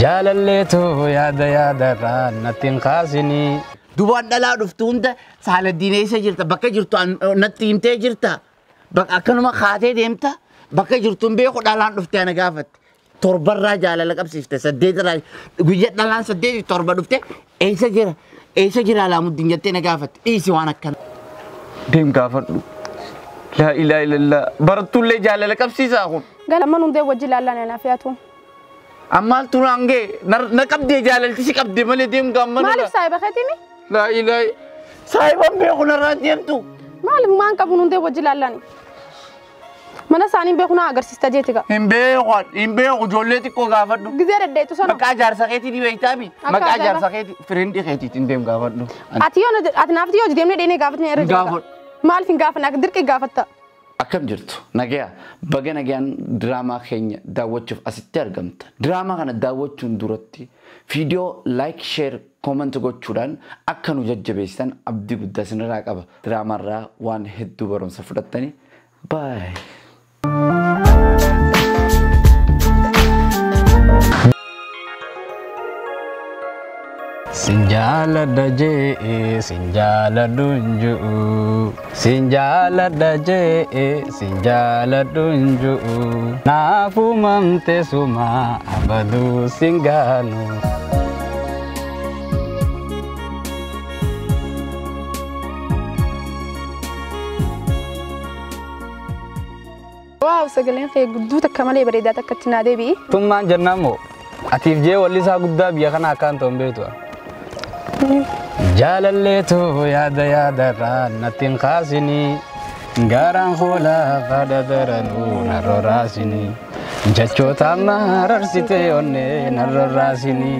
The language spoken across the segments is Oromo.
Jaalallee too yaada yaadarraa natti hin kaasinii. Dubaan dhalaa dhuftu hunda Saaladdiin eessa jirta bakka jirtu an- natti himtee jirta bakka akkanuma kaatee deemta bakka jirtu hin beeku dhalaan dhufte ana gaafatte torbarraa jaalala qabsiifte saddeetirraa guyya dhalaan saddeeti torba dhufte eessa jira eessa jira alaamuddin jettee na gaafatte dhiisi waan akkana. Deem gaafadhu. Laa ilaa ilallaa. Barattuullee jaalala qabsiisaa kun. Galaman hundee wajji laallaan anaaf yaatu. Ammaal turaan gee na qabdee jaalalti si qabde malee deemtu amma nana. Maaliif saahiba keetimi? Laa ilaa saahiban beeku narraa deemtu. Maaliif maan qabuun hundee wajji laallani? Mana isaanii beeku naa agarsiista jeeti gaa. Hin beeku hin beeku ijoollee xiqqoo gaafadhu. Gizee daddeetu sana. Maqaa jaarsa keetii ni beektaami. Akka Maqaa ajaa'iba. jaarsa keetii firindii keetiitti hin deem gaafadhu. Ani Ati yoo ati naaf yoo deemnee dheenee gaafatni irra Hin jira. gaafadhu. Maaliif hin gaafanne akka dirqi gaafatta? Akkam jirtu? Nagaya? Baga nagayaan diraamaa keenya daawwachuuf asitti argamtan. Diraamaa kana daawwachuun duratti viidiyoo like, share, comment gochuudhaan akka nu jajjabeessitan abdii guddaa isinirraa qaba. Diraamaarraa waan hedduu barumsa fudhattani. Bye! Sin jaaladha jee'e sin jaaladhu hin ju'u sin jaaladha jee'e sin jaaladhu hin ju'u naaf uumamte suma abaduu sin gaanu. Waaw sagaleen kee gudduu takka malee bareedaa takka itti naa deebi'i. Tummaan jennaan moo atiif jee wallisaa guddaa biyya kana akkaan ta'u hin beektu. Jaalalleetu yaada yaadarraa natti hin kaasinii gaaraan hoolaa haadha daranuu narra raasinii jechoota amma hararsitee onnee narra raasinii.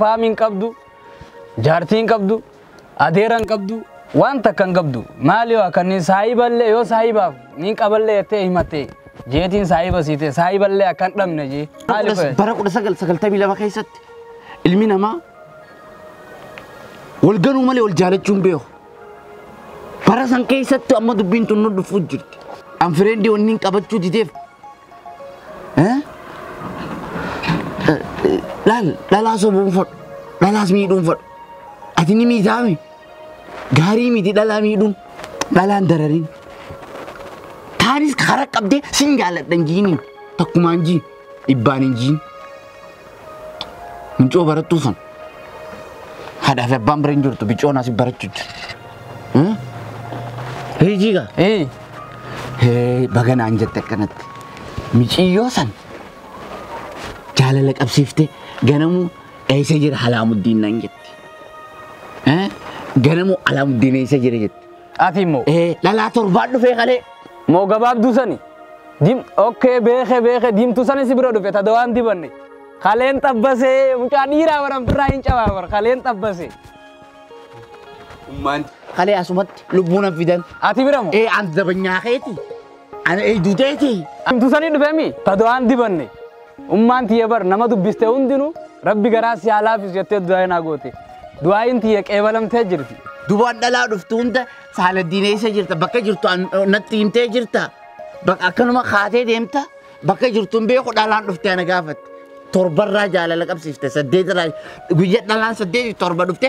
Faami hin qabdu, jaartii hin qabdu, adeera hin qabdu, waan takka hin qabdu. Maali waa kanneen saahiballee yoo saahibaaf niin qaballee jettee himattee jeetiin saahiba siitee saahiballee akka hin dhabne jee. Maali Bara fayyada? bara kudha sagal sagaltamii lama keessatti ilmi namaa wal ganuu malee wal jaalachuu hin beeku. Bara san keessattu amma dubbiin tun nu dhufuuf jirti. An fireendi wanni hin qabachuu dideef. Laal dhalaa sobuun fadhu. Dhalaas miidhuun fadhu. Ati ni miidhaame. Gaarii miti dhalaa miidhuun. Dhalaan darariin. Taanis karaa qabdee sin jaaladhan jiiniin. Takkumaan jiin. dhibbaan hin jiin mincoo barattuu sun haadhaa fi abbaan bira hin jirtu bicoon asii barachuu jiru. Hiijii gaa. Ee Hee baga naan jette akkanatti. Miciyyoo san jaalala qabsiifte ganamuu eessa jira halaamuddiin naan jette. Hee ganamuu halaamuddiin eessa jira jette. Xaafii moo. Ee dhalaa torbaa dhufee kalee. Moo gabaabduu sani. Dim okkee beeke beeke diimtuu sani si bira dhufe ta dawaan dibanne. Kaleen xabbasee mucaa dhiiraa bara birraa hin cabaa bara kaleen xabbasee. Ummaan. Kalee asumatti lubbuu nan fidan. Ati bira moo. Ee an dabanyaa keeti. Ana eegdu teeti. Himtu sanii dhufe mi ta du'aan dibanne. Ummaan tiyya bar nama dubbiste hundinuu rabbi garaa si haa laafisu jettee du'aa'ii naa goote. Du'aa'iin tiyya qeebalamtee jirti. Dubaan dhalaa dhuftu hunda Saaladdiin eessa jirta bakka jirtu an- natti himtee jirta. Bakka akkanuma kaatee deemta bakka jirtu hin beeku dhalaan dhuftee ana gaafatte. Torbarraa jaalala qabsiifte saddeetirraa guyyaa dhalaan saddeetii torba dhufte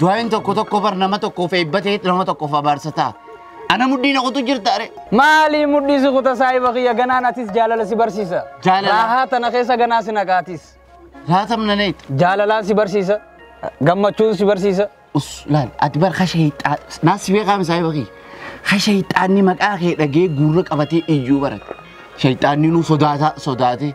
Du'aayin tokko tokko bar nama tokkoof eebba ta'e nama tokkoof abaarsa ta'a. Ana mudhii na qotu jirta are. Maali mudhii si kuta saahiba kiyya ganaan atis jaalala si barsiisa. Jaalala. Raahaa tana keessa ganaa si naqaatis. Raatam na neet. Jaalalaan si barsiisa. Gammachuun si barsiisa. Us laal ati bar kasha hiixaa naas si beekaam saahiba kiyya. Kasha hiixaanni maqaa kee dhagee guurra qabatee iyyuu barate. Shayxaanni nu sodaata sodaatee.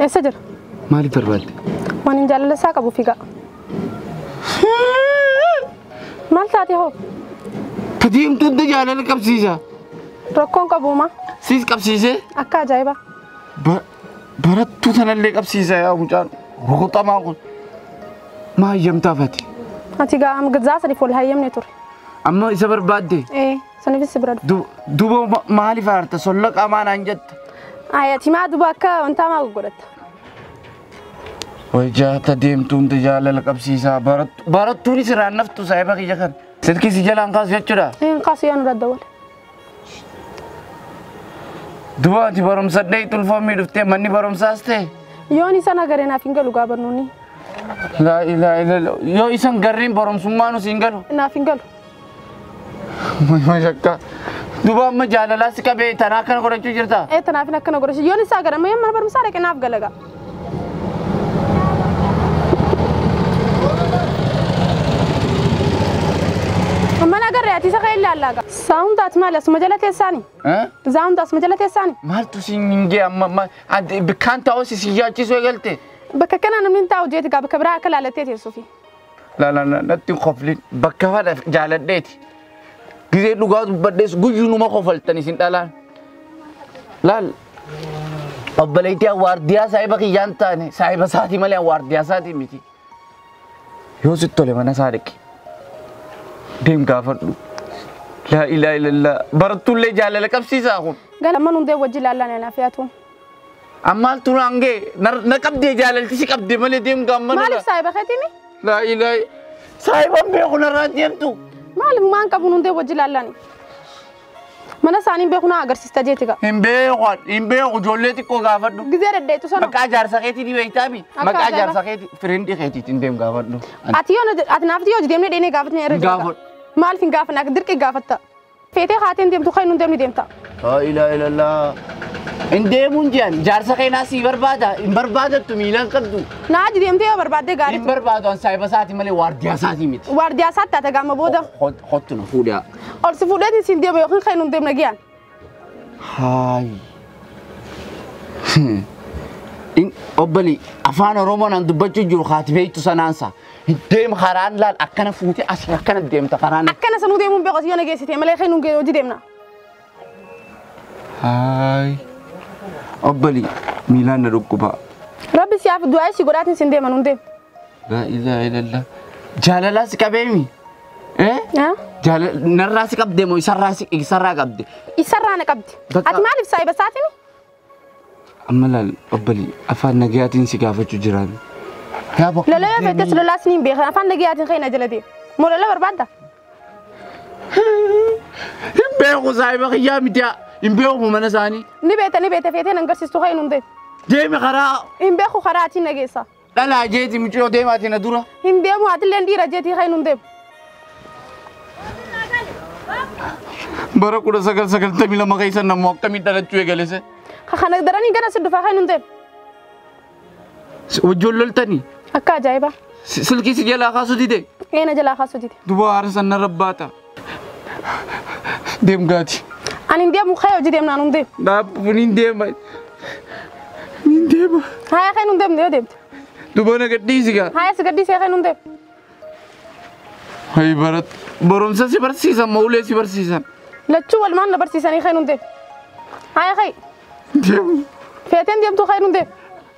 Eessa jira? Maaliif barbaadde? Waan hin jaalala isaa qabu figaa. Maal taate hoo? Ka diimtuutti jaalala qabsiisa. Rakkoon qabuuma. Siis qabsiisee Akka ajaa'ibaa. ba- barattuu tanallee qabsiisa yaa mucaan rukuxamaa kun. Maa hayyamtaaf ati? Ati gaa hanga zaa sadiif wal hayyamne ture. Amma isa barbaadde? Ee. Sanifis si bira dhufa. Du- Duboo ma- maaliif aarta solla qaamaa naan jetta? Ayati maa duba akka wantaa maa goggodhatta. Way jaata deemtuun jaalala qabsiisaa barattu barattuun siraan naftu saahiba kiyya kan. Silkii si jalaan kaasu jechuudha. Hin kaasu yaa nurra dawwale. Duboo ati barumsa dhee tulfoomii dhuftee manni barumsaas ta'e. Yoon isa nagaree naaf hin galu gaa barnoonni. Laa ilaa ilaa yoo isan garriin barumsummaa nu siin galu. Naaf hin galu. Mashakka. Duba amma jaalalaa si qabee tanaa kana godhachuu jirta. Ee tanaaf akkana godhe yoon isaa gara mee mana barumsaa dhaqe naaf galaga. Mana agarre ati isa ka'ee laallaga. Saawundi ati maali asuma jala teessaani? Eh? Saawundi asuma jala teessaani? Maaltu si hin gee amma amma adde- bikkaan ta'uu si si yaachisuu eegalte. Bakka kanaa namni hin taa'u jeeti gaa bakka biraa akka laallattee teessuufi. Laalala natti hin koflin bakka fadha jaaladheeti. Gizee dhugaa dubbadhees guyyuu numa kofaltan isin dhalaan. Laal obboleettii awwaardiyaa saahiba kiyyaa hin taane saahiba isaatii malee awwaardiyaa isaatii miti. Yoo sitti tole mana isaa dhaqi. Deem gaafadhu. Laa ilaa ilallaa barattuullee jaalala qabsiisaa kun. Galaman hundee wajji laallaan anaaf yaatu. Ammaal turaan gee na qabdee jaalalti si qabde malee deemtu amma nana. Maaliif saahiba keetimi? Laa ilaa saahiban beeku narraa deemtu. Maaliif maan qabuun hundee wajji laallani? Mana isaanii beeku naa agarsiista jeeti gaa. Hin beeku hin beeku ijoollee xiqqoo gaafadhu. Gizee daddeetu sana. Maqaa jaarsa keetii ni beektaami. Akka Maqaa ajaa'iba. jaarsa keetii firindii keetiitti hin deem gaafadhu. Ati yoo ati naaf yoo deemnee dheenee gaafatnee irra Hin jira. gaafadhu. Maaliif hin gaafanne akka dirqi gaafatta? Feetee haateen deemtu kan hundee ni deemta. Laa ilaaha illallah. Hin deemuun jiran jaarsa keenyaa sii barbaada hin barbaadattu miilaan qabdu. Naaji deemtee yoo barbaaddee gaarii Hin barbaadu an saahiba isaati malee waardiyaa isaatii miti. waardiyaa isaatti haa tagaama booda. Hot- Hottu na fuudhaa. Ol si fuudheetiin siin deema yookiin kan hin deemne giyaan. Haayi. Obbalii afaan Oromoon an dubbachuu jiru haati beektu sanaansa. Deem karaan laal akkana fuute asii akkana deemta karaan. Akkana sanuu deemuun beeku asii yoo na geessite malee kan nuun hojii deemna. Haay. Obbali miilaan na dhukkubaa. Rabbi siyaaf du'aa isii godhaatiin sin deema nuun deema. Laa ilaaha illallah. Jaalalaa si qabeemi. Eh? Haa? Jaalala narraa si qabde moo isarraa si isarraa qabde? Isarraa na qabdi. Bakka- Ati maaliif saayiba saatiin? Amma laal obbolii afaan nagayaatiin si gaafachu jiraan. Yaa bakka Lola yoo beektes lola asni hin beekan afaan nagayaatiin ka'e na jalate. Moo lola barbaadda? Hin beeku saahiba kiyyaa midiyaa. Hin beeku mana isaanii. Ni beekta ni beekta feetee nan garsiistu ka'e nun deema. Deemi karaa Hin beeku karaa atiin na geessa. Dhalaa jeeti mucayoo deemaati na dura. Hin deemu atilleen dhiira jeetii kan hin deemu. Bara kudha sagal sagaltamii lama keessa namoo akkamiin dhalachuu eegalese. Ka kana daranii gana si dhufaa kan hin deemu. Wajjoon loltanii Akka ajaa'ibaa. silkii si jalaa kaasuu dide. Eena jalaa kaasuu dide. Duba haara sanna rabbaata. Deem gaati. Ani hin deemu kee hojii deemnaan hin deemu. Dhaabbuun hin deema. Hin deema. Haaya kee hin deemne yoo deemte. Dubana gadhiisi gaa. Haaya si gadhiisee kee hin deemu. Hayi barat. Barumsa si barsiisan moo ulee si barsiisan. Lachuu walumaan na barsiisanii kee hin deemu. Haaya kee Deemu. feeteen deemtuu kee hin deemu.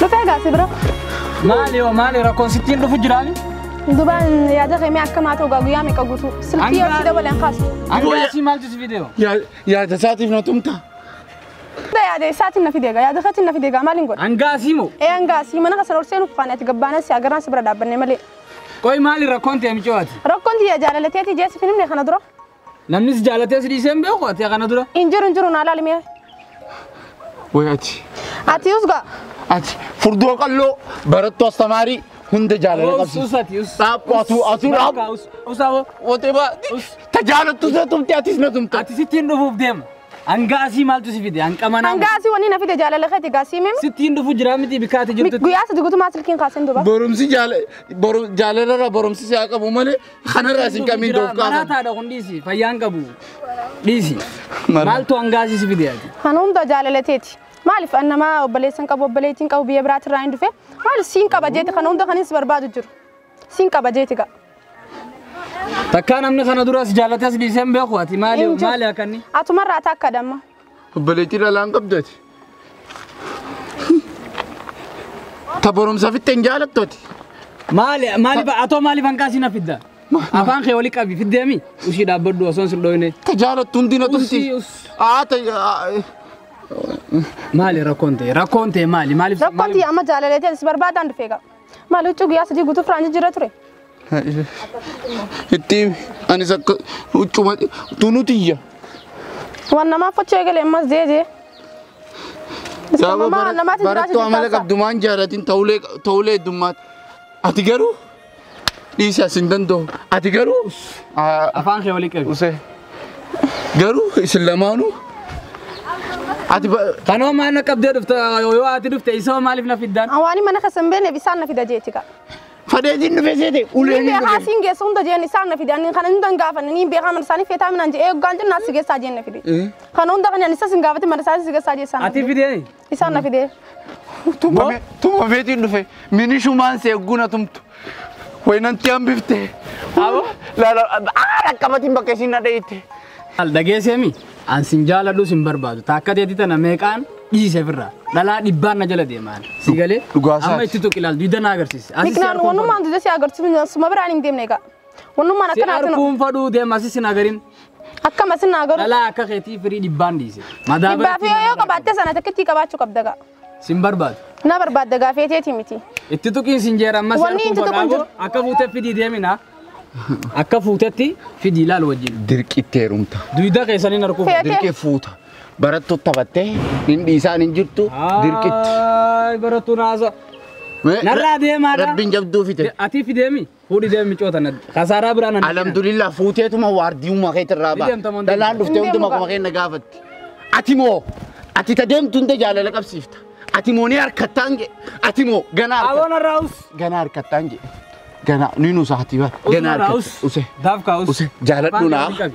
Dhufee gaasi bira. Maali yoo maali rakkoon sittiin dhufu jiraani? Dubaan yaada keemee akka maa ta'u guyyaa meeqa guutuu. Silkii yoo si dabaleen kaasu. Angaasii maaltu si fidee? Yaada isaatiif na tumta. Dha yaada isaatiin na fideega yaada keetiin na fideega maaliin godha? Angaasii moo? Ee angaasii mana kasan ol seenuuf faana ati gabbaanas si agarraan si bira dhaabbanne malee. Qoy maali rakkoon ta'e micooti? Rakkoon tiyya jaalalateetii jeessi finimne kana dura. Namni si jaalatee si dhiisee hin beeku ati kana dura. Hin jiru hin jiru naa laali mee. Way ati. Ati usga. Ati furdoo qalloo barattuu astamaarii hunda jaalala Us qabsiisa. us ati us. Dhaabbu atuu atuu dhaabbu. Us us abo. Wotee baa ta jaalattu isa tumte atis na tumte. Ati sittiin dhufuuf deema. Hanga asii maaltu si fide hanga manaa. Hanga asii wanni na fide jaalala keeti gaa sii mimi. Sittiin dhufu jiraa miti bikkaa ati jirtu. Guyyaa sadi gutumaa silkiin kaasin duba. Borumsi jaala boru- jaalarra borumsi si haa qabu malee Kanarraa isin kamiin Jira, dhoofkaa kana? Maraataadha kun dhiisi. Fayyaan qabu. Dhiisi. Mara. Maaltu hangaasii si fide ati? Kan humna jaalala teeti. Maaliif an nama obboleessan qabu obboleettiin qabu biyya biraatti irraa hin dhufe maal siin qaba jeeti kan humna kanis barbaadu jiru. Siin qaba jeeti gaa. Takkaa namni kana duras jaalatee si dhiisee hin beeku ati maali Hin jiru. maali akkanni? Atumarraa takkadha amma. Obboleettii dhalaan qabdati. Ta barumsa fitte hin jaalattoti. Maali maali ba atoo maali bankaa siin fidda. Afaan kee wali qabi fiddeemi. Ushii dhaabbadhu osoo hin dhooyne. Ta jaalattu hundi na tumti. Usii, us. Aa ta Maali rakkoon ta'e rakkoon ta'e maali maaliif Rakkoon tiyya amma jaalaleetiin si barbaadaan dhufee qaba. Maal huccuu guyyaa sadii guutuu firaan jijjiirra ture. Itti himi. Anis akka huccuma tunuu tiyya. Waan namaa fachu eegale ammas jee jee. Gaafa Mamaa bara- namaatiin jiraachuu barattuu amala taasisaa. qabdu maan jaalatin ta'ulee ta'ulee heddummaatti. Ati garuu dhiisi as hin danda'u. Ati garuu aa, Afaan kee walii qabi. usee garuu isin lamaanuu ati ba- Kanoo maal na qabdee dhufte yoo ati dhufte isoo maaliif na fiddaan? Awaanii mana keessa hin beekne bisaan na fida jeeti kaa. Fadeetiin dhufee seete Niin uleen hin beekaa dhufe. siin geessa hunda jeen isaan na fidaan niin kana hundan gaafanne niin beekaa mana isaanii feetaa minaan jee eeggaan jenna as si geessaa jeen na fide. Kana hunda kan isas hin gaafate mana isaanii si geessaa jee isaan na Ati fide. fidee. Isaan na fide. Tumame tumameetiin dhufe minishumaan si eegguuna tumtu. Waynanti hambifte. Abo laala aa dhaqqabatiin bakka isiin na dhayitte. Maal dhageesseemi? An sin jaaladhu sin barbaadu. Taakka teetii tana meeqaan dhiise firra. Dhalaa dhibbaan na jala deemaan. Si galee? dhugaa isaati. Amma itti tuqi laal duyda na agarsiisi. Asi si Miknaan arkuun wanummaan dudda si agarsiisu suma biraan hin deemne egaa. Wanummaan Si akkanaatiin arkuun fadhuu deema asi sin agarin. akkam asin naa garuu Dhalaa akka keetii firii dhibbaan dhiise. Madaa dhibbaa fi biratti yoo qabaatte sana takkittii qabaachuu qabda egaa. Sin barbaadu. Na barbaadda gaa feeteeti miti. Itti tuqiin sin jeera ammas Wanni harkuun itti tuqu hin fodhaabu. jiru. Akka fuutee fidii deemina. Akka fuutetti fidii laal wajjin. Dirqitti heerumta. Duyda keessaniin harkuun Feete. Dirqi fuuta. Barattu taphattee hin dhiisaan hin jirtu. Dirqitti. Ay barattuun haasa. Mee- Narraa deemaadha. Rabbiin jabduu fite. Atii fideemi. Fuudhi deemi miccoo tana. Kasaaraa biraan hanna. Alhamdulillah fuuteetuma waardiyummaa keetti irraa Ni deemta moo ba'a. hin Dalaan deemtu? dhuftee Hin hunduma deemu kuma keenya gaafatti. Ati moo ati ta deemtu hunda jaalala qabsiifta. Ati moo ni harkattaan jedhe. Ati moo ganaa harkattaan. Aboon irraa us. Ganaa harkattaan jedhe. Ganaa ni nuusa hati bara. Ganaa harkattaan. Us. Use. Daafkaa us. Use jaaladhu naa.